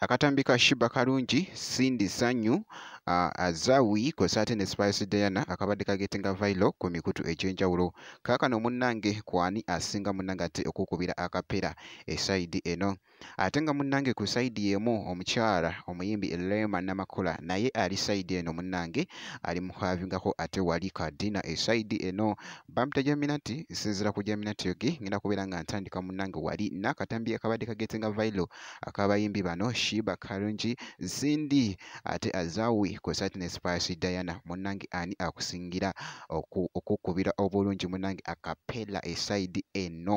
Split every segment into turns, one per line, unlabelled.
akatambi ka shiba kalungi cindy sanyu uh, azawi kwesa ate ne spice diana akabadde kagetinga vailo ku mikutu egyenjawulo kaakano munnange kwani asinga munnange ate okukubira akapera esaidi eno ate nga munnange ku sayidi y'emu omukyala omuyimbi Rema Namakula naye ali sayidi eno munnange ali muhavingako ate wali kadina esayidi eno bampita jaminati nsinzira ku jaminati yogi ngenda kubeera nga ntandika munnange wali n'akatambi akabadde kagete nga vailo akabayimbi bano shiba karungi zindi ate azawi ku sayidi ne spice diana munnange ani akusingira okukubira obulungi munnange akapela esayidi eno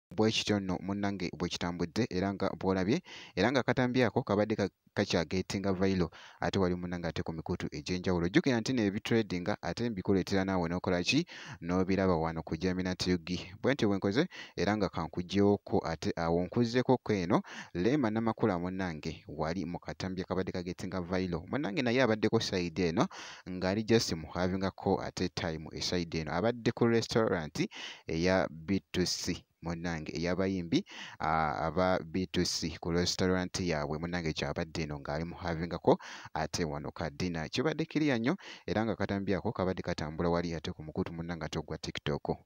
bwekityo nno
munnange bwekitambudde era nga bwolabye era nga akatambi ako kabadde kakyagetinga vailo ate wali munnange ate ku mikutu egy'enjawulo jjukira nti no ebitradinga ate mbikuleetera naawe n'okola ki n'obiraba wano ku jamina tug bwentyo bwenkoze era nga kankugyewookko ate awo nkuzzeko ko eno leema namakula munnange wali mu katambi akabadde kagetinga vailo munnange naye abaddeko sayidi eno ng'ali just mu havingako ate time eside eno abadde ku restaurant eya B2C munange eyabayimbi aba B2C ku restaurant yaabwe munange kyabadde eno ng'ali mu havingako ate wano ka dina kibadde kiriya nnyo era nga katambyako kabadde katambula wali ate ku mukutu munange ate ogwa tiktok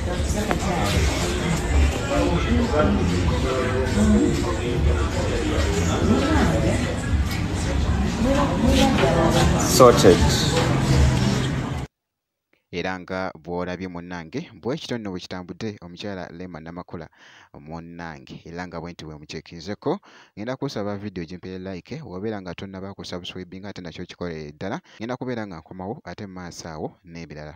sorted
era nga bw'olabye munnange bwekityo nno bwe kitambudde omukyala lema namakula munnange era nga bwenti bwe mukyekinzeko ngenda kusaba vidiyo gyempere like wabeera nga tonnaba kusubscribinga ate nakyo kikolerere ddala ngenda kubeera nga nkomawo ate mu maaso awo n'ebirala